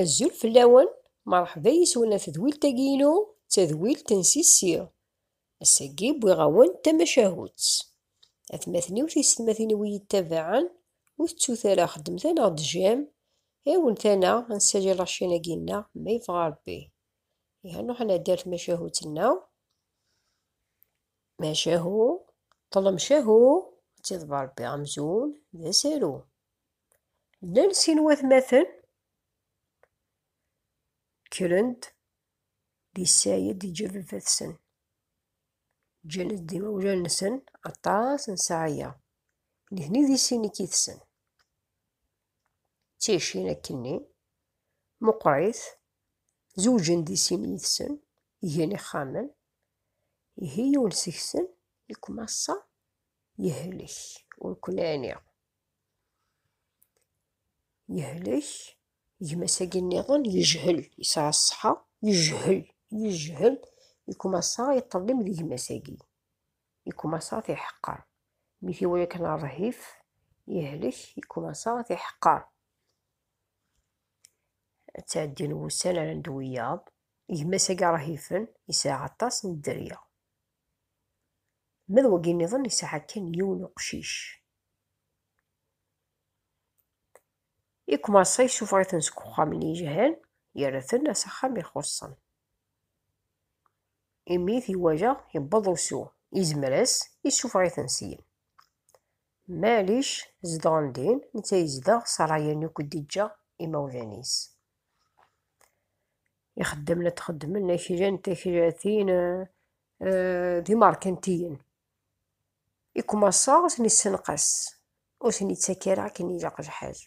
Azul fell-awen, merḥba yis-wen a tedwilt-agi-inu, d tadwilt n Sissi. Ass-agi wwiɣ-awen tamacahut. Atmaten-iw tisetmatin-iw iyi-ittabaɛen, ur tettut ara xedmet-a neɣ d jam, awent ana nessali lacin-agi-nneɣ ma yebɣa Rebbi. Iha nruḥ ad nɛeddi ar tmacahut-nneɣ. Macahu, ṭlem cahu, ad tiḍber Rebbi amzun d asaru. Llan sin watmaten kkren-d di Sayed yeǧǧa baba-tsen. Ǧǧan-d imawlan-nsen aṭas n ssaɛa-ya. Nitni di sin i k-itsen. Tticin akkenni, meqqrit, zewǧen di sin yid-sen, gan ixxamen. Ihi yiwen seg-sen, i kem ass-a yehlek, ur ken-ɛniɣ. Yehlek gma-s agi nniḍen yejhel, yesɛa ṣṣeḥa, yejhel, yejhel, yekmasa yeṭṭellem di gma-s agi. Yekmasa tiḥeqqer. Mi t-iwala kan rrhif, yehlek, yekmasa tiḥeqqer. Ad tɛeddin wussan ara ndu wiyaḍ, gma-s agi rhifen, yesɛa aṭas n dderya. Ma d wagi nniḍen yesɛa kan yiwen uqcic. I umaṣay isuffeɣ-iten seg uxxam n yejhal, yerra-ten s axxam ixuṣṣen. Imi i t-iwajeɣ yewweḍ usu, izmer-as, isuffeɣ-iten syin. Maɛlic, zedɣen din, netta yezdeɣ s rray-inu i k-d-iǧǧa imawlan-is. Ixeddamen ad t-xeddmen aklan, taklatin, d imerkantiyen. I kumaṣa ur ten-issenqas, ur ten-ittak ara akken ilaq lḥal.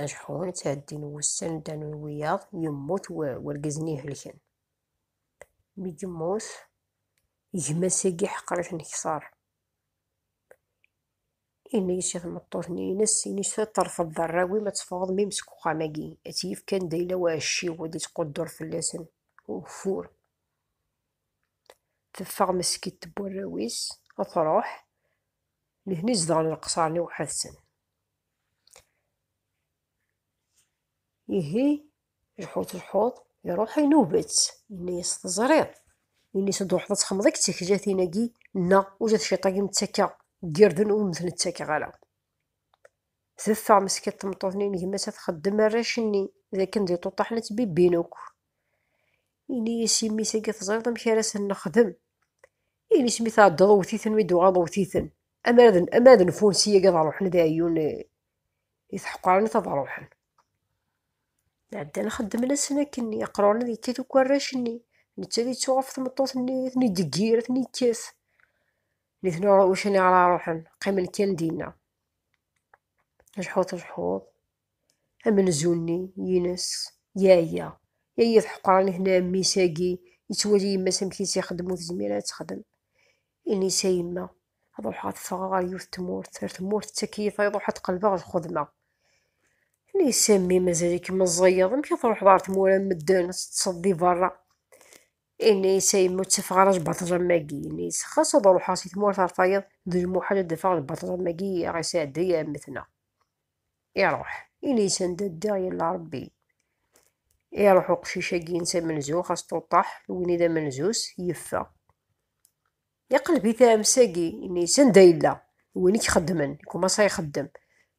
Ajeḥun, ttɛeddin wussan, ddan wiyaḍ, yemmut wergaz-nni ihelken. Mi yemmut, gma-s-agi ḥeqer-it nekter. Yenna-as i tmeṭṭut-nni ines, ini-as ad terfeḍ d arraw-im ad teffɣeḍ mim seg uxxam-agi, ad tt-yefk anda yella uɛecciw, ad ittquddur fell-asen ugeffur. Teffeɣ Meskidt n warraw-is, ad truḥ. Nitni zedɣen leqṣer-nni weḥd-sen. Ihi, lḥut lḥut, iruḥ inub-tt, yenna-yas teẓriḍ. Ini-s ad ruḥeḍ ad txemmeḍ i yettakajatin-agi, neɣ uja tciṭ-agi mettakeɣ deg irden ur mten-ttakeɣ ara. Teffeɣ Meskidt tmeṭṭut-nni n gma-s ad txeddem arrac-nni, d akken d iṭuṭaḥen ad ttbibbin akk. Ini-yi s yimi-s agi teẓriḍ amek ara sen-nexdem. Ini-s mi tɛeddaḍ wwet-iten mi d-uɣaḍ wwet-iten. Ama d nfun si agi ad ruḥen ad ɛeyyun i tḥeqqaranit ad ruḥen. Ɛeddan xeddmen asen akken iqruren ad yekkat uku arrac-nni. Netta ad yettu ɣef tmeṭṭut-nni ad ten-id-iggir ad ten-yekkat. Nitni ucani ara ruḥen qqimen kan dinna. Ajeḥuḍ ajeḥuḍ. Amenzu-nni, ines, yaya. Yaya d ḥeqran hna mmi-s agi, yettwali yemma-s amek i s-ixeddem ur tezmir ara ad texdem. Ines, a yemma, ad ruḥeɣ ad ffɣeɣ ɣer yiwet tmurt, ar tmurt d takeyyit ay ruḥ ad qelbeɣ ad xedmeɣ. Ines, a mmi mazal-ikem meẓẓiyeḍ, amek ad truḥeḍ ɣer tmura n medden, ad teṭṭseḍ di berra. Ines, a yemma ur ttafeɣ ara lbaṭlam-agi. Ines, xas ad ruḥeɣ si tmurt ar tayeḍ, d lmuḥal ad d-afeɣ lbaṭlam-agi i aɣ-isɛedday ɛemmetneɣ. iruḥ ini sanda ddiɣ yella rebbi iruḥ uqcic-agi insa amenzuɣ asṭuṭaḥ win i d amenzus yeffeɣ iqleb-it amsagi ini sanda yella win i k-xeddmen kumaṣa ixeddem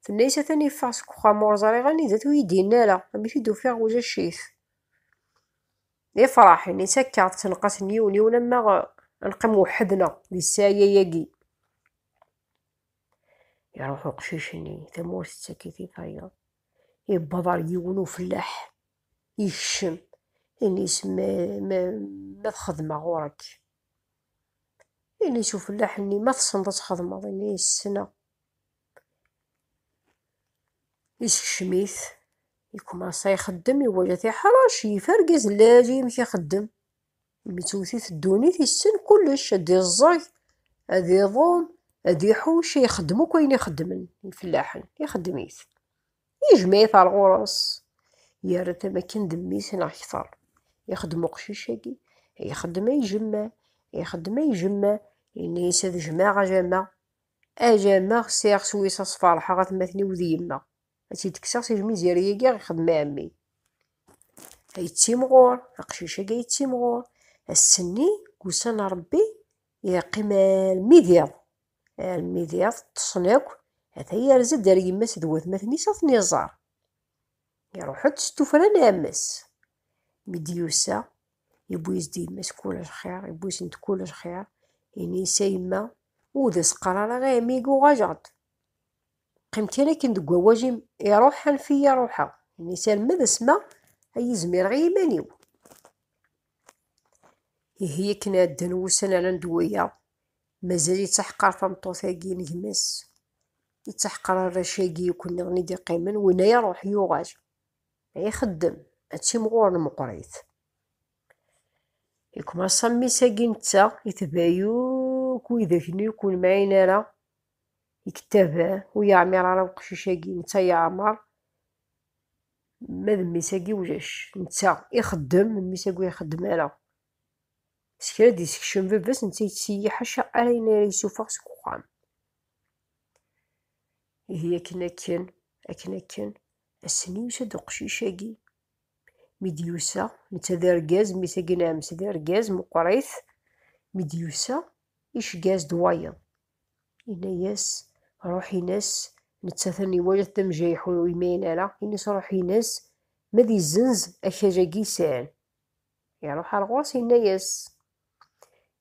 tenna-yas atan yeffeɣ seg uxxam ur ẓriɣ anida-t ur iyi-d-yenni ara amek i d-ufiɣ ujac-it ifraḥ ini sakka tenqas n yiwen yiwen amaɣ nqim weḥd-neɣ di ssaɛa-agi Iruḥ uqcic-nni, tamurt tettak-it i tayeḍ. Iwweḍ ar yiwen ufellaḥ, ikcem, ini-s ma, ma, ma txedmeɣ ɣur-k. Ini-s ufellaḥ-nni, ma tessneḍ ad txedmeḍ, ini-s ssneɣ. Isekcem-it, ikmasa ixeddem, iwala tiḥrac, yif argaz n lɛali amek ixeddem. Mi tewwet-it ddunit yessen kullec, ad iẓẓeg, ad iḍum, ad iḥucc, ixeddem akk ayen ixeddmen ifellaḥen, ixeddem-it. Yejmeɛ-it ar ɣur-s, yerra-t am akken d mmi-s neɣ kteṛ. Ixeddem uqcic-agi, ixeddem ay jemma, ixeddem ay jemma, yenna-yas ad jmeɛ a jama, a jama sɛiɣ s wis ad sfeṛḥeɣ atmaten-iw d yemma. Ad tt-id-kkseɣ si lmizir-agi i ɣ-ixdem ɛemmi. Ay yettimɣur, aqcic-agi ay yettimɣur. Ass-nni deg ussan n Rebbi yeqqim almi d iḍ. Almi d iḍ ṭṭsen akk, ata yerza-d ar yemma-s d watmaten-is ad ten-iẓer. Iruḥ-d s tuffra n ɛemmi-s. Mi d-yusa, yewwi-as-d yemma-s kul lxir, yewwi-asen-d kul lxir. Ini-as a yemma, ur d as-qqar ara i ɛemmi-agi uɣaleɣ-d. Qqimet kan akken deg wawal-im, iruḥ anef-iyi a ruḥeɣ, ini salma d asma ay izmireɣ i yiman-iw. Ihi akken ɛeddan wussan ala d waya, mazal yettaḥqar tameṭṭut-agi n gma-s. Yettaḥqar arrac-agi akk nniḍen i d-iqqimen, winna iruḥ yuɣal. Ay ixeddem, ad timɣuren meqqrit. Ikmasa mmi-s-agi netta, itebɛi akk widak-nni ur ken-mɛin ara, Ikettab, ur yeɛmir ara uqcic-agi, netta yeɛmer ma d mmi-s-agi ulac, netta ixeddem, mmi-s-agi ur ixeddem ara. S kra d-isekcem baba-s, netta yettseyyih ḥaca ar ayen ara yessufeɣ seg uxxam. Ihi akken akken, akken akken, ass-nni yusa-d uqcic-agi. Mi d-yusa, netta d argaz, mmi-s-agi n ɛemmi-s d argaz, meqqeṛ-it, mi d-yusa, iceggeɛ-as-d wayeḍ. Yenna-yas, Ruḥ-ines, nettat a niwalat d amjayeḥ ur imayen ara, ini-s ruḥ-ines, ma ad izzenz akaj-agi yesɛan. Iruḥ ar ɣur-s yenna-yas,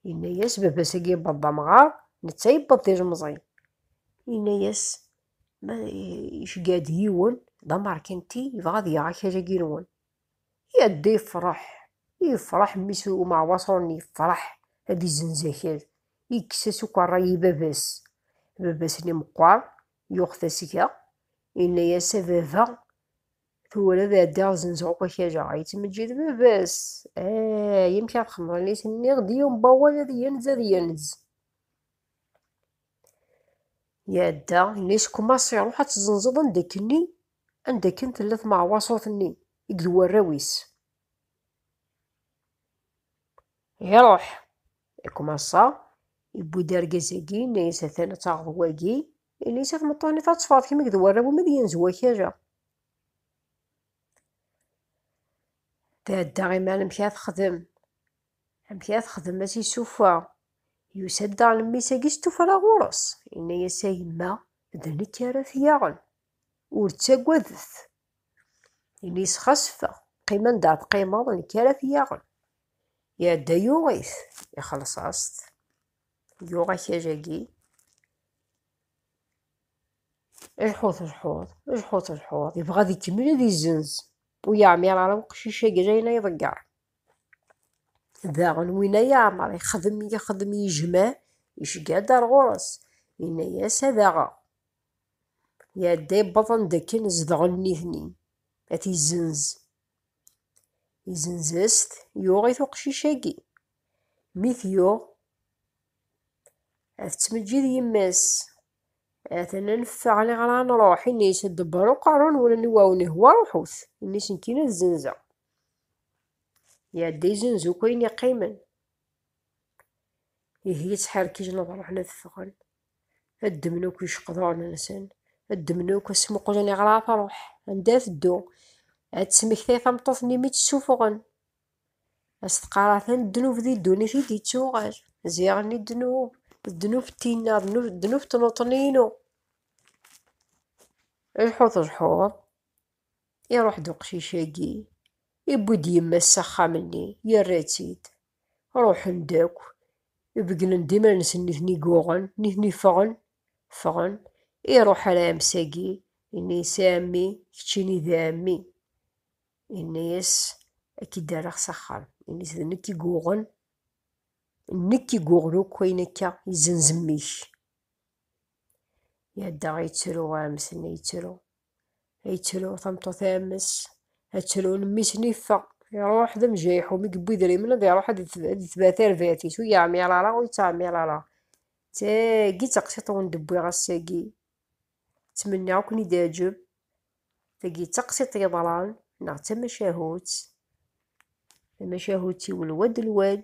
yenna-yas, baba-s agi yewweḍ d amɣar, netta yewweḍ d ilemẓi. Yenna-yas, ma iceggeɛ-d yiwen d amerkanti, yebɣa ad yaɣ akaj-agi-nwen. Yadda yefreḥ, yefreḥ mmi-s n umeɛwaṣur-nni yefreḥ ad izenz akal, yekkes-as akk ṛṛay i baba-s. Baba-s-nni meqqer, yuɣ tasga, yenna-yas, A baba, tura ad ɛeddiɣ ad zenzeɣ akk akal-a. Yettmeǧǧid baba-s, Ah, amek ara txedmeḍ? Ini-as, nniɣ-d i umbawal ad yenz, ad yenz. Iɛedda, yenna-yas, Kumas, ṛuḥ ad tzenzeḍ anda akken-nni, Anda akken tella tmeɛwaṣut-nni i d warraw-is. Iruḥ. Ikumaṣa, iwwi-d argaz-agi, yenna-yas atan ad taɣeḍ wagi, yenna-yas a tmeṭṭut-nni tatteffɣeḍ kemm i d warraw-im ad yenz wakal-a. Tɛedda imi amek ara texdem, amek ara texdem ad t-issuffeɣ. Yusa-d daɣen mmi-s-agi s tuffra ɣur-s, yenna-yas a yemma d nekk ara t-yaɣen, Ur ttagadet. Ini-as xas ffeɣ, qqim anda ara teqqimeḍ, nekk ara t-yaɣen. Iɛedda yuɣ-it, ixelleṣ-as-t, yuɣ akal-agi. Lḥut lḥut, lḥut lḥut, yebɣa ad ikemmel ad izzenz. Ur yeɛmir ara uqcic-agi d ayen ay iḍegger. Daɣen win ay yeɛmer ixdem, ixdem yejma, yecga-d ar ɣur-s, yenna-as ad aɣeɣ. Iɛedda ibaḍan d akken zedɣen nitni, ad t-izzenz. Izzenz-as-t, yuɣ-it uqcic-agi. Mi t-yuɣ, ad tettmeǧǧid yemma-s. Atan ad neffeɣ neɣ ad nruḥ. Ini-as ad d-tebbeṛ uqerru n wul-nni, wa wen ihwa ruḥut. Ini-as nekkini ad zzenzeɣ. Iɛedda izzenz akk ayen iqqimen. Ihi yettḥerkijen ad ruḥen ad ffɣen. ad ddmen akk iceqduren-nsen, ad ddmen akk ad smuqlen iɣer ara truḥ, anda ad teddu, ad tesmektay tameṭṭut-nni mi tt-ssufuɣen, ad s-teqqar atan ddnub di ddunit i d-ittuɣal, ziɣen-nni ddnub, ddnub d tinna, ddnub d tnuṭni-inu. Lḥut lḥut. Iruḥ-d uqcic-agi, iwwi-d yemma-s s axxam-nni, yerra-tt-id. Ruḥen-d akk, begnen-d iman-nsen nitni guɣen, nitni ffɣen, ffɣen. Iruḥ ar ɛemmi-s-agi, yenna-yas a ɛemmi, keččini d ɛemmi. Yenna-yas ad k-id-rreɣ s axxam. Yenna-yas d nekk i guɣen, nekk i guɣen akk ayen akka izzenz mmi-k. Iɛedda ittru ɛemmi-s-nni, ittru. yettru tameṭṭut ames attrun mmi-s n iffeɣ iruḥ d amjayiḥu mi yewwi idrimen ad iruḥ ad itba tarbatit ur yeɛmir ara ur yettɛemir ara tagi d taqsiṭ wen d-wwiɣ ass-agi ttmenniɣ akk n-id-aǧeb tagi d taqsiṭ yeḍran neɣ d tamacahut tamacahut iwel wad lwad